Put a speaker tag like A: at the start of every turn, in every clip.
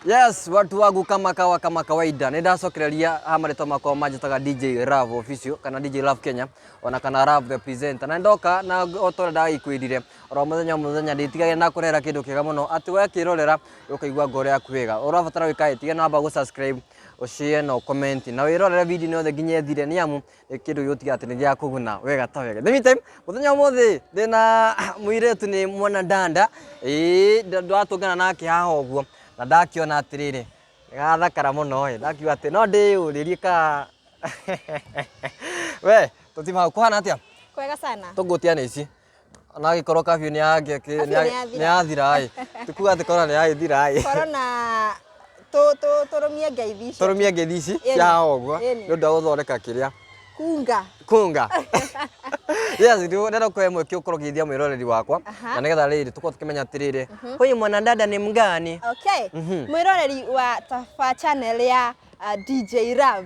A: Yes, watu wangu kama kawa kama kawaida nindacokereria ha marĩtwa makwa manjĩtaga DJ Rav official kana DJ Rav Kenya ona kana Rav the presenter na ndoka na o ta ũrĩa ndagĩkwĩrire oro mũthenya o mũthenya ndĩtigage na kũrera kĩndũ kĩega mũno atĩ wekĩrorera ũkaigua ngoro yaku wega ũrabatara wĩkaĩ tiga namba gũ subscribe ũshare na comment na wĩrorere video yothe nginya ĩthire nĩ amu kĩndũ gĩgũtige atĩ nĩ gĩa kũguna wega ta wega the meantime mũthenya ũmũthĩ ndĩna mũirĩtu nĩ mwana danda ĩĩ nda- ndĩratũngana nake haha ũguo na ndakĩona atĩrĩrĩ gathakara mũno ĩ ndakiuga atĩ no ndĩyũrĩrie ka we tũtima kũhana atĩa kwega sana
B: tũngũtia nĩ ici
A: ona agĩkorwo kabiũ nĩ yangĩ- kĩ- Kabiũ nĩ ya- nĩyathira. nĩ yathira-ĩ tũkuga atĩ korona nĩ yagĩthira-ĩ korona
B: tũ- tũ- tũrũmie ngeithi
A: icio tũrũmie ngeithi ici Ĩni. cia ũguo Ĩni. nĩ ũndũ wa gũthondeka kĩrĩa kunga kunga yes ndio nenda kwa mwe kio koro githia mwiroreri wakwa Aha. na nigetha riri tuko tukimenya atiriri huyu mwanadada ni mgani okay Mhm.
B: mwiroreri wa taba channel ya uh, dj rav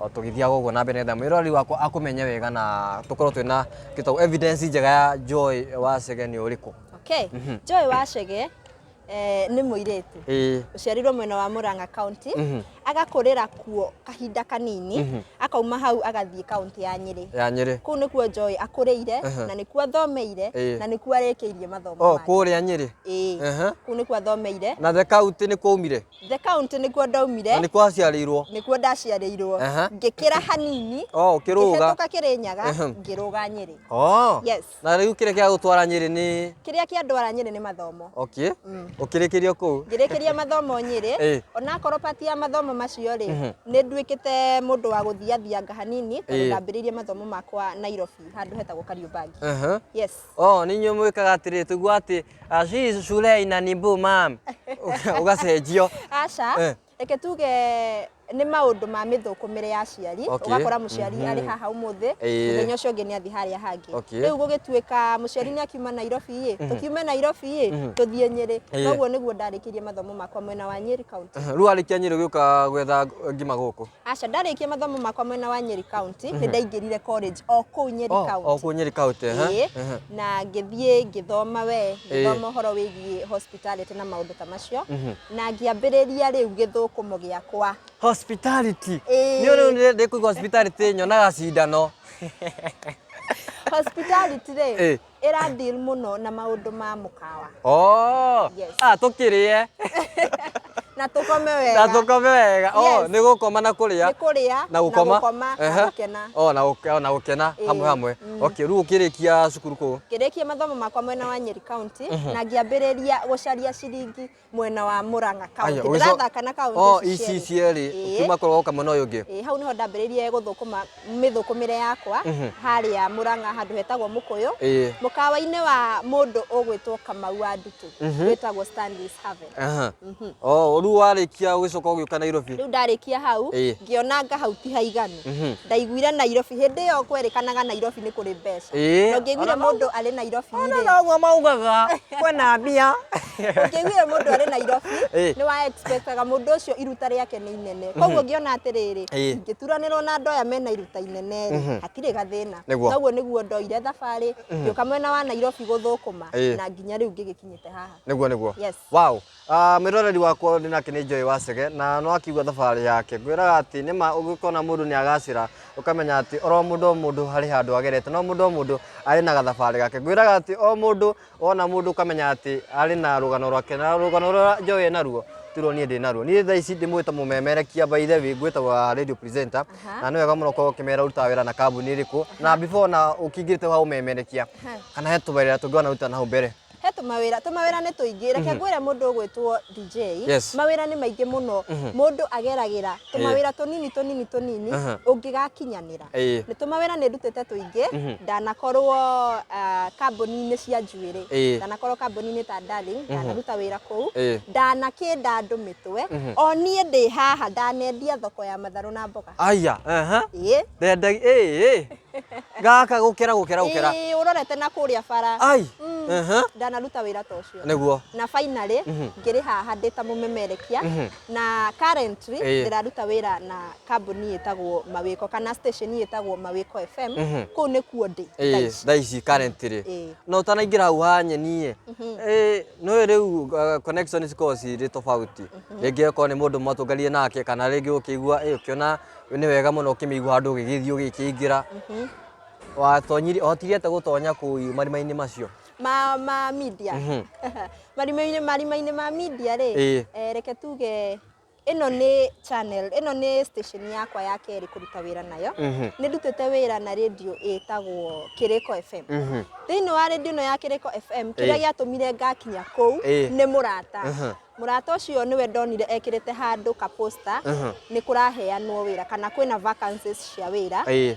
A: o tũgĩthiaga ũguo na mbere nĩgetha mwĩroreri wakwa akũmenye wega na tũkorwo twĩna kĩtau evidence njega ya Joy wa Chege nĩ ũrĩkũ okay Joy
B: wa Chege eh, nĩ mũirĩtu ĩĩ ũciarirwo mwena wa Murang'a County Mhm. agakũrĩra kuo kahinda kanini Mhm. akauma hau agathiĩ kaunti ya Nyĩrĩ ya Nyĩrĩ kũu nĩkuo Joy akũrĩire Aha. na nĩkuo athomeire Ĩĩ. na nĩkuo arĩkĩirie mathomo o make kũrĩa Nyĩrĩ ĩĩ
A: Aha. kũu nĩkuo
B: athomeire na the county nĩ
A: kwaumire The county nĩkuo
B: ndaumire. Na nĩkuo aciarĩirwo.
A: Nĩkuo ndaciarĩirwo.
B: Ngĩkĩra hanini. Oh, ũkĩrũga. Ngĩhetũka
A: kĩrĩ nyaga,
B: ngĩrũga Nyĩrĩ. Oh. Yes. Na rĩu kĩrĩa kĩa
A: gũtwara Nyĩrĩ nĩ? Kĩrĩa kĩa ndwara Nyĩrĩ
B: nĩ mathomo. Okay. Mm.
A: Ũkĩrĩkĩria kũu. Ngĩrĩkĩria mathomo
B: Nyĩrĩ. Eh. Ona akorwo part ya mathomo macio rĩ, mhm. nĩ nduĩkĩte mũndũ wa gũthiathianga hanini, tondũ eh. ndambĩrĩirie mathomo makwa Nairobi, handũ hetagwo Kariũbangi. Yes. oh nĩ inyuĩ mwĩkaga
A: atĩrĩ tũigua atĩ ah, she is shulei na nimbu mam ũgacenjio aca Eh.
B: reke tuge nĩ maũndũ ma mĩthũkũmĩre ya aciari Okay. ũgakora mũciari arĩ haha ũmũthĩ Eh. mũthenya ũcio ũngĩ nĩ athi harĩa hangĩ Okay. rĩu gũgĩtuĩka mũciari nĩ akiuma nairobi ĩ tũkiume nairobi ĩ tũthiĩ nyĩrĩ Eh. koguo nĩguo ndarĩkĩirie mathomo makwa mwena wa nyĩri kaunti rĩu arĩkia nyĩrĩ gĩũka
A: gwetha ngima gũkũ Aca ndarĩkia mathomo
B: makwa mwena wa Nyeri County, nĩ ndaingĩrire college o kũu Nyeri Oh, County. o kũu Nyeri County, aha,
A: Ĩĩ, aha. na
B: ngĩthiĩ ngĩthoma we Ĩĩ. ngĩthoma ũhoro wĩgiĩ hospitality na maũndũ ta macio Mhm. na ngĩambĩrĩria rĩu gĩthũkũmo gĩakwa Hospitality.
A: Ĩĩ. Niĩ rĩu nĩ- ndĩkũigua hospitality nyonaga cindano.
B: hospitality rĩ Ĩĩ. ĩra deal mũno na maũndũ ma mũkawa oh Yes. ah tukiriye
A: na
B: tũkome na wega tukome wega oh Yes. ni gukoma
A: na kuria nĩ kũrĩa na gukoma na Ehe. gũkena oh na gũke- na gukena Ĩĩ. hamwe hamwe Mm. okay riu ukirikia cukuru ku ngĩrĩkia mathomo makwa
B: mwena wa Nyeri County na ngĩambĩrĩria gũcaria ciringi mwena wa Murang'a County ndĩrathaka na kaunti oh, ici cierĩ
A: kuma kũrĩ woka mwena ũyũ ũngĩ ĩĩ hau nĩho ndambĩrĩirie
B: gũthũkũma mĩthũkũmĩre yakwa mhm. harĩa Murang'a handũ hetagwo Mũkũyũ mũkawa-inĩ wa mũndũ ũgwĩtwo Kamau wa Ndutu mhm. wĩtagwo Stanley's Haven mhm. oh, rĩu
A: warĩkia ũgĩcoka ũgĩũka Nairobi rĩu ndarĩkia hau
B: ngĩona nga hau ti haiganu ndaiguire Nairobi hĩndĩ ĩyo kwerĩkanaga Nairobi nĩ kũrĩ mbeca no ngĩiguire mũndũ arĩ Nairobi rĩ ona no maugaga
A: kwĩna mbia ũngĩiguire
B: mũndũ arĩ nairobi Eh. nĩ wa expectaga mũndũ ũcio iruta rĩake nĩ inene koguo ngĩona atĩrĩrĩ Eh. ingĩturanĩrwo na andũ aya mena iruta inene rĩ hatirĩ gathĩna Nĩguo. naguo nĩguo ndoire thabarĩ ngĩũka mwena wa nairobi gũthũkũma Eh. na nginya rĩu ngĩgĩkinyĩte haha nĩguo nĩguo Yes. wow Ah,
A: mwĩroreri wakwa ũndũ nake nĩ njũĩ wacege na no akiuga thabarĩ yake ngwĩraga atĩ nĩ ma ũgĩkona mũndũ nĩ agacĩra ũkamenya atĩ oro mũndũ o mũndũ harĩ handũ agerete no mũndũ o mũndũ arĩ na gathabarĩ gake ngwĩraga atĩ o mũndũ Wona mũndũ ũkamenya atĩ arĩ na rũgano rwake na rũgano rũrĩa njoĩ e naruo tiruo niĩ ndĩ naruo niĩ thaa ici ndĩmwĩta mũmemerekia by the way ngwĩtagwo radio presenter na nĩ wega mũno korwo ũkĩmera ũrutaga wĩra na kambuni ĩrĩkũ na before na ũkĩingĩrĩte wa ũmemerekia kana he tũwĩra tũngĩ wanaruta nahau mbere he tũmawĩra tũmawĩra
B: nĩ tũingĩ reke ngwĩre mũndũ ũgwĩtwo DJ Yes. mawĩra nĩ maingĩ mũno mũndũ ageragĩra tũmawĩra tũnini tũnini tũnini Aha. ũngĩgakinyanĩra Ĩĩ. nĩ tũmawĩra nĩ ndutĩte tũingĩ ndanakorwo ah, kambuni-inĩ cia njuĩrĩ Ĩĩ. ndanakorwo kambuni-inĩ ta darling ndanaruta wĩra kũu Ĩĩ. ndanakĩnda andũ mĩtwe o niĩ ndĩ haha ndanendia thoko ya matharũ na mboga Aya, aha.
A: Ĩĩ. Ndendagi, ĩĩ, ĩĩ. Gaka gũkĩra gũkĩra gũkĩra. Ĩĩ, ũrorete
B: na kũrĩa bara Ai. Mm. Aha. ndanaruta wĩra ta ũcio Nĩguo. na finally ngĩrĩ haha ndĩ ta mũmemerekia na currently Eh. ndĩraruta wĩra na kambuni ĩtagwo mawĩko kana station ĩtagwo mawĩko fm Mhm. kũu nĩkuo ndĩ thaa Eh, ici. thaa ici currently
A: Eh. na ũtanaingĩra hau ha nyeni ĩ Eh, nĩũĩ rĩu uh, connection cikoragwo cirĩ tofauti rĩngĩ okorwo nĩ mũndũ mwatũnganire nake kana rĩngĩ ũkĩigua eh, ũkĩona nĩ wega mũno ũkĩmĩigua handũ ũgĩgĩthiĩ ũgĩkĩingĩra watonyire hotire ate gũtonya kũu marima-inĩ macio ma ma
B: media Mhm. marima-inĩ marima-inĩ ma media rĩ Ĩĩ. eh, reke tuge ĩno nĩ channel ĩno nĩ station yakwa ya kerĩ kũruta wĩra nayo Mhm. nĩ ndutĩte wĩra na radio ĩtagwo kĩrĩko fm Mhm. thĩinĩ wa radio ĩno ya kĩrĩko fm kĩrĩa Ĩĩ. gĩatũmire ngakinya kũu Ĩĩ. nĩ mũrata Mhm. mũrata ũcio nĩwe ndonire ekĩrĩte handũ kaposta Mhm. nĩ kũraheanwo wĩra kana kwĩna vacancies cia wĩra Ĩĩ.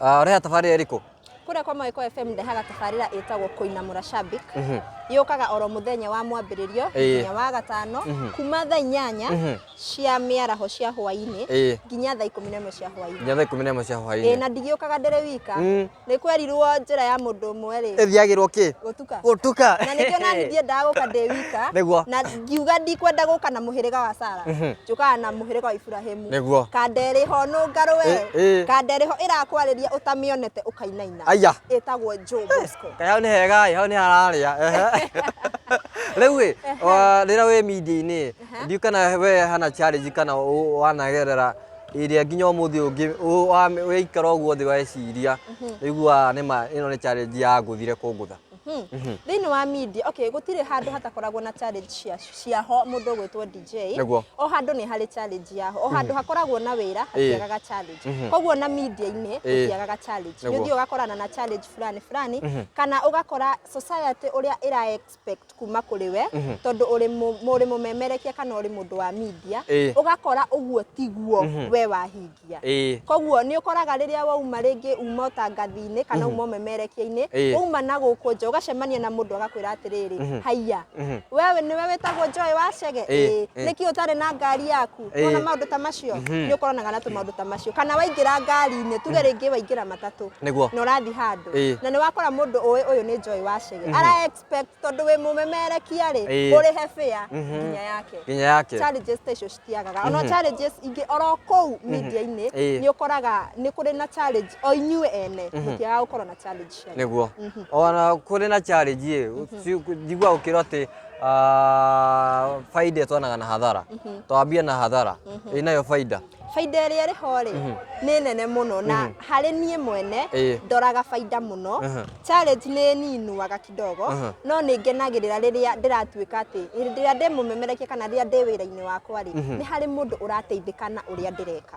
A: Ah, ũreha tabarĩra ĩrĩkũ kũrĩa kwa mawĩko
B: fm ndehaga tabarĩra ĩtagwo kũinamũra shabik Mhm. yũkaga oro mũthenya wa mwambĩrĩrio Ĩĩ. nginya wa gatano Mhm. kuma thaa inyanya Mhm. cia mĩaraho cia hwainĩ Ĩĩ. nginya thaa ikũmi na ĩmwe cia hwainĩ nginya thaa ikũmi na ĩmwe cia Ĩĩ, hwainĩ na ndigĩũkaga ndĩrĩ wika Mm. nĩ kwerirwo njĩra ya mũndũ ũmwe rĩ ĩthiagĩrwo kĩ
A: gũtuka gũtuka na nĩkĩo nani
B: ndiendaga gũka ndĩ wika Nĩguo. na ngiuga ndikwenda gũka na mũhĩrĩga wa sara Mhm. njũkaga na mũhĩrĩga wa iburahimu Nĩguo. kanderĩ ho nũngarũ Ĩ, ĩ. we kanderĩ ho ĩrakwarĩria ũtamĩonete ũkainaina Aya. ĩtagwo jobosco Kaĩ hau nĩ hega ĩ hau nĩ
A: hararĩa ehe. rĩu ĩ wa- rĩrĩa wĩ media-inĩ ndiũ kana we hana challenge kana ũ- wanagerera ĩrĩa nginya ũmũthĩ ũngĩ ũgaikara ũguo thĩ weciria ũiguaga nĩ ma ĩno nĩ challenge ya ngũthire kũngũtha thĩinĩ wa
B: media okay gũtirĩ handũ hatakoragwo na challenge cia ciaho mũndũ ũgwĩtwo DJ Nĩguo. o handũ nĩ harĩ challenge yaho o handũ hakoragwo na wĩra hatiagaga challenge koguo na media-inĩ gũtiagaga challenge nĩ Nĩguo. ũthiĩ ũgakorana na challenge fulani fulani kana ũgakora society ũrĩa ĩra respect kuma kũrĩ we Mhm. tondũ ũrĩ mũ- mũrĩ mũmemerekia kana ũrĩ mũndũ wa media Ĩĩ. ũgakora ũguo tiguo Mhm. we wahingia Ĩĩ. koguo nĩ ũkoraga rĩrĩa wauma rĩngĩ uma ũtangathi-inĩ kana Mhm. uma ũmemerekia-inĩ Ĩĩ. wauma na gũkũ nja ũgacemania na mũndũ agakwĩra atĩrĩrĩ Mhm. haiya Mhm. wewe nĩwe wĩtagwo njoĩ wa cege Ĩĩ, Ĩĩ. ĩĩ. nĩkĩ ũtarĩ na ngari yaku Ĩĩ. wona maũndũ ta macio Mhm. nĩ ũkoranaga na tũmaũndũ ta macio kana waingĩra ngari-inĩ tuge rĩngĩ waingĩra matatũ Nĩguo. na ũrathiĩ handũ Ĩĩ. na nĩ wakora mũndũ ũĩ ũyũ nĩ njoĩ wa cege Mhm. ara expect tondu wi mumemerekia ri Ĩĩ. uri he fair Mhm. nginya yake nginya yake challenges ta icio citiagaga ona Mhm. challenges ingĩ oro kũu media-inĩ Ĩĩ. nĩ ũkoraga nĩ kũrĩ na challenge o inyuĩ ene Mhm. mũtiaga gũkorwo na challenge cianyu. niguo Mhm.
A: ona kũrĩ na challenge ĩ njigua ũkĩrwo atĩ ah, baida ĩtwanaga na hathara Mhm. twambia na hathara Mhm. ĩnayo baida bainda ĩrĩa ĩrĩ ho
B: rĩ mhm. nĩ nene mũno na mhm. harĩ niĩ mwene ndoraga bainda mũno challenge nĩ ninuaga kidogo no nĩ ngenagĩrĩra rĩrĩa ndĩratuĩka atĩ hĩndĩ ĩrĩa ndĩ mũmemerekia kana rĩrĩa ndĩ wĩra-inĩ wakwa rĩ mhm. nĩ harĩ mũndũ ũrateithĩka na ũrĩa ndĩreka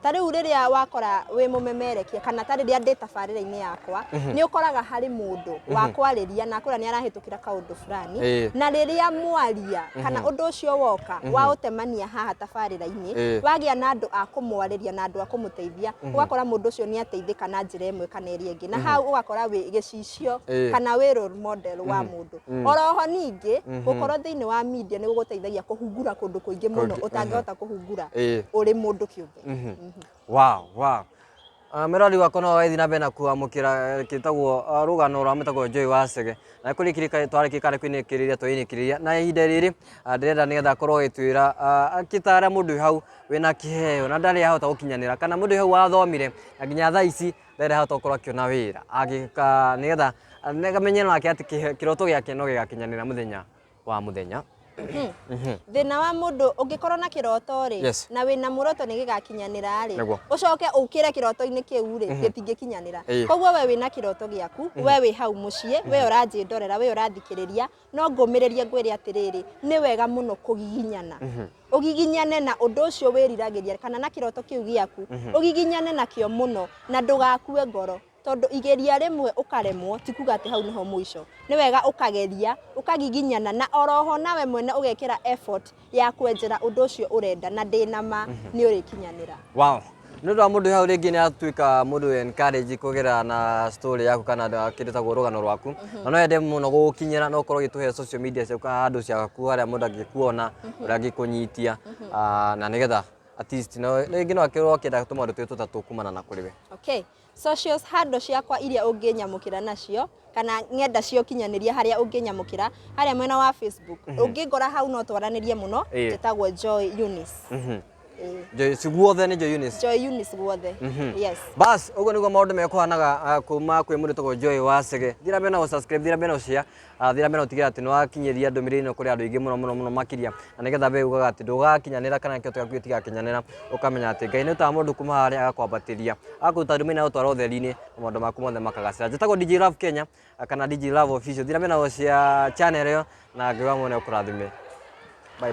B: ta rĩu rĩrĩa wakora wĩ mũmemerekia kana ta rĩrĩa ndĩ tabarĩra-inĩ yakwa nĩ ũkoraga harĩ mũndũ wakwarĩria na kũrĩa nĩ arahĩtũka kira kaundu fulani Eh. na riria mwaria kana undu ucio woka wautemania haha tabarira-ini Eh. wagia na andu a kumwariria na andu a kumuteithia ugakora mundu ucio ni ateithika na njira imwe kana iria ingi na hau ugakora wi gicicio Eh. kana wi role model wa mundu oroho ningi gukorwo thiini wa media ni guguteithagia kuhungura kundu kuingi muno Kũngĩ, utangihota kuhungura Eh. uri mundu kiumbe wow wow
A: Ah, Mĩrori wakwa no ĩthiĩ na mbere na kwamũkĩra eh, kĩtagwo ah, rũgano rwa mũtagwo Joy wa Cege na kũrĩ kirika twarĩkĩka nĩ kwinĩkĩrĩria twĩinĩkĩrĩria na ihinda rĩrĩ ah, ndĩrenda nĩgetha akorwo agĩtwĩra ah, akĩtara mũndũ wĩ hau wĩna kĩheo na ndarĩ ahota gũkinyanĩra kana mũndũ wĩ hau wathomire na nginya thaa ici ndarĩ ahota gũkorwo akĩona wĩra agĩka nĩgetha ah, nĩgetha amenye nake atĩ kĩhe- kĩroto gĩake no gĩgakinyanĩra mũthenya wa mũthenya
B: thina wa mundu ungikorwo na kiroto ri Yes. na wina muroto ni gigakinyanira ri Nĩguo. ucoke ukire kiroto-ini kiu ri gitingikinyanira Ĩĩ. koguo we wina kiroto giaku we wi hau mucii we uranji ndorera we urathikiriria no ngumiririe ngwire atiriri ni wega muno kugiginyana ugiginyane na undu ucio wiriragiria kana na kiroto kiu giaku ugiginyane nakio muno na ndugakue ngoro tondũ igeria rĩmwe ũkaremwo ti kuga atĩ hau nĩho mũico. Nĩ wega ũkageria, ũkagiginyana na oroho nawe mwene ũgekĩra effort ya kwenjera ũndũ ũcio ũrenda na ndĩ na ma mhm. nĩ ũrĩkinyanĩra. Wow. Nĩ
A: ũndũ wa mũndũ hau rĩngĩ nĩ atuĩka mũndũ encourage kũgera na story yaku kana kĩndũ ta rũgano rwaku mhm. na no yende mũno gũgũkinyĩra no ũkorwo ũgĩtũhe social media ciaku handũ ciaku harĩa mũndũ angĩkuona mhm. ũrĩa angĩkũnyitia mhm. ah, na nĩgetha at least rĩngĩ no akorwo akĩenda tũmaũndũ twĩ tũtatũ kumana na kũrĩ we. Okay. Socials
B: handle ciakwa iria ũngĩnyamũkĩra nacio kana ng'enda cia ũkinyanĩria harĩa ũngĩnyamũkĩra harĩa mwena wa Facebook mhm. ũngĩngora hau no twaranĩrie mũno njĩtagwo Joy Eunice mhm. Joy
A: guothe nĩ Joy Eunice. Joy Eunice guothe.
B: Mhm. Yes. Bas, ũguo nĩguo
A: maũndũ mekũhanaga ah, kuma kwĩ mũndũ tagwo Joy wa Sege. Thira mbere na gũ subscribe, thira mbere na gũ share. Athĩra mena ũtigĩra atĩ nĩ wakinyĩria ndũmĩrĩri ĩno kũrĩ andũ aingĩ mũno mũno mũno makĩria na nĩgetha we ugaga atĩ ndũgakinyanĩra kana kĩo gĩaku gĩtigakinyanĩra ũkamenya atĩ Ngai nĩ ũtaga mũndũ kuma harĩa agakwambatĩria agakuruta ndũmĩrĩri na gũtwara ũtheri-inĩ na maũndũ maku mothe makagacĩra njĩtagwo DJ Love Kenya kana DJ Love Official thira mena cia channel ĩyo na Ngai wa mwene ũkũrathime bye bye